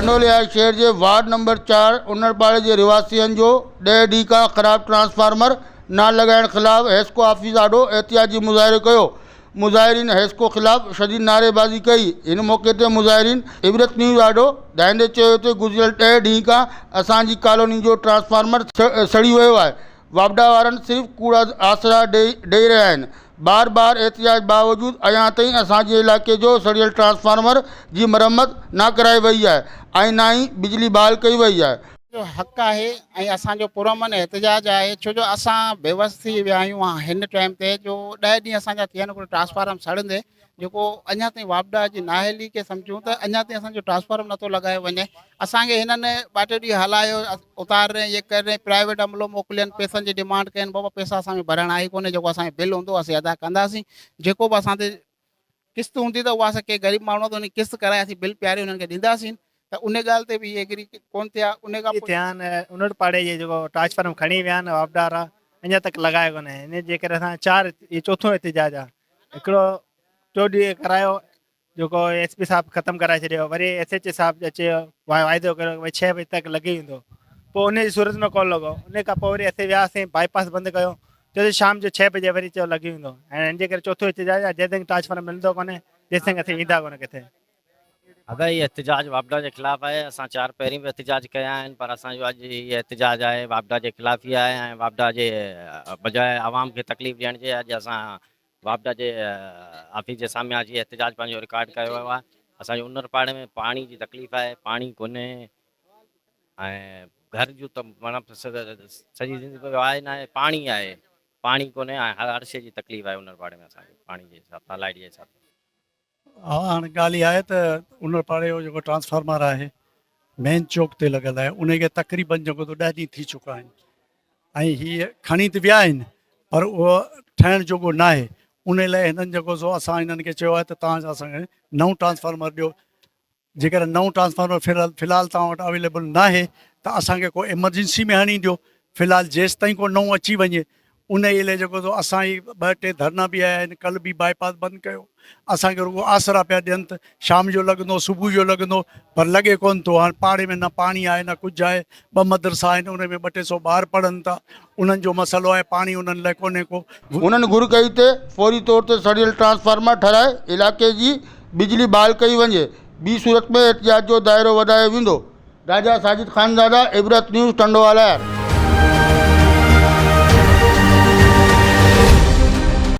ٽنڊو لحاظ شهر جي وارڊ نمبر چار انڙپاڙي جي رهواسين جو ڏهه ڏينهن کان خراب ٽرانسفارمر نه لڳائڻ خلاف حيسڪو آفيس آڏو احتجاجي مظاهرو ڪيو مظاهرين حيسڪو خلاف شديد نعريبازي ڪئي هن موقعي تي مظاهرين عبرت نيوز آڏو ڌائيندي چيو ته گذريل ڏهه ڏينهن کان اسان جي ڪالوني جو ٽرانسفارمر سڙي ويو آهي واپڊا وارن صرف ڪوڙا آسرا ڏئي رهيا آهن بار بار احتجاج باوجود اڃا تائين اسان جي علائقي جو سڙيل ٽرانسفارمر جي مرمت نه ڪرائي وئي آهي ۽ نه ئي بجلي بحال ڪئي وئي آهي. جو حق آهي ۽ اسان جو پرامن احتجاج آهي ڇو جو اسان بيوس ٿي ويا آهيون هن ٽائيم تي جو ڏهه ڏينهن اسان جا ٿيا آهن ڪو ٽرانسفارم سڙندي جيڪو اڃا تائين واپڊا جي نااهلي کي سمجهون ته اڃا تائين اسان جو ٽرانسفارم نٿو لڳايو وڃي اسان کي هنن ٻه ٽي ڏينهن هلايو اتار رهي یہ ڪر رهي پرائيويٽ عملو موڪلين پيسن جي ڊيمانڊ ڪين بابا پيسا اسان کي ڀرڻا ئي ڪونهي جيڪو اسان جو بل هوندو اسين ادا ڪنداسين جيڪو به اسان تي قسط هوندي ته اها اسان ڪي غريب ماڻهو ته ان قسط ڪرائي اسين بل پياري هنن کي ڏينداسين ته ان ڳالهه تي به اهي ايگري ڪون ٿيا ان کان پوء ٿيا آهن انڙ پاڙي جي جيڪو ٽرانسفارم کڻي ويا آهن واپڊا وارا اڃا تڪ لڳايو ڪونهي ان جي ڪري اسان چار چوٿون احتجاج آهي هڪڙو ٽيو ڏينهن ڪرايو جيڪو ايس پي صاحب ختم ڪرائي ڇڏيو وري ايس ايچ اي صاحب اچي واعدو ڪريو ڀاء ڇهه بجي تڪ لڳي ويندو پوء ان جي صورت ۾ ڪول لڳو ان کان پوء وري اسين وياسين باء پاس بند ڪيو چيو ته شام جو ڇهه بجي وري چيو لڳي ويندو ۽ ان جي ڪري چوٿو احتجاج آهي جيسين ٽرانسفارم ملندو ڪونهي تيسين اسين ويندا ڪونه ڪٿي ادا هي احتجاج واپڊا جي خلاف آهي اسان چار پهرين به احتجاج ڪيا آهن پر اسان جو اڄ هي احتجاج آهي واپڊا جي خلاف ئي آهي ۽ واپڊا جي بجاء عوام کي تڪليف ڏيڻ جي اڄ اسان واپڊا جي آفيس جي سامهين اچي احتجاج پنهنجو رڪارڊ ڪيو ويو آهي اسان جي انر پاڙي ۾ پاڻي جي تڪليف آهي پاڻي ڪونهي ۽ گهر جون ته مانا سڄي زندگي آهي نه آهي پاڻي آهي پاڻي ڪونهي ۽ هر شي جي تڪليف آهي انر پاڙي ۾ اسان کي پاڻي جي حساب سان لائٽ جي حساب سان ها هاڻ ڳالهه اها آهي ته ان پاڙي جو جيڪو ٽرانسفارمر آهي مين چوڪ تي لڳل آهي ان کي تقريبن جيڪو ته ڏهه ڏينهن ٿي چڪا آهن ۽ هي کڻي ته ويا آهن پر اهو ٺهڻ جوڳو نه آهي ان لاء هنن جيڪو سو اسان هنن کي چيو آهي ته تان اسان کي نئون ٽرانسفارمر ڏيو جيڪڏهن نئون ٽرانسفارمر في الحال توهان وٽ اويليبل ناهي ته اسان کي ڪو ايمرجنسي ۾ هڻي ڏيو في الحال جيستائين ڪو نئون اچي وڃي ان ئي لئه جيڪو سو اسان هي ٻه ٽي ڌرنا به هنيا آهن ڪل به باء پاس بند ڪيو اسان کي رڳو آسرا پيا ڏين ته شام جو لڳندو صبح جو لڳندو پر لڳي ڪونه ٿو هاڻي پاڙي ۾ نه پاڻي آهي نه ڪجهه آهي ٻه مدرسا آهن ان ۾ ٻه ٽي سو ٻار پڙهن ٿا انهن جو مسئلو آهي پاڻي انهن لاء ڪونهي ڪو. هنن گهر ڪئي ته فوري طور تي سڙيل ٽرانسفارمر ٺهرائي علائقي جي بجلي بحال ڪئي وڃي ٻي صورت ۾ احتجاج جو دائرو وڌايو ويندو. راجا ساجد خانزاده، عبرت نيوز، ٽنڊوالهيار.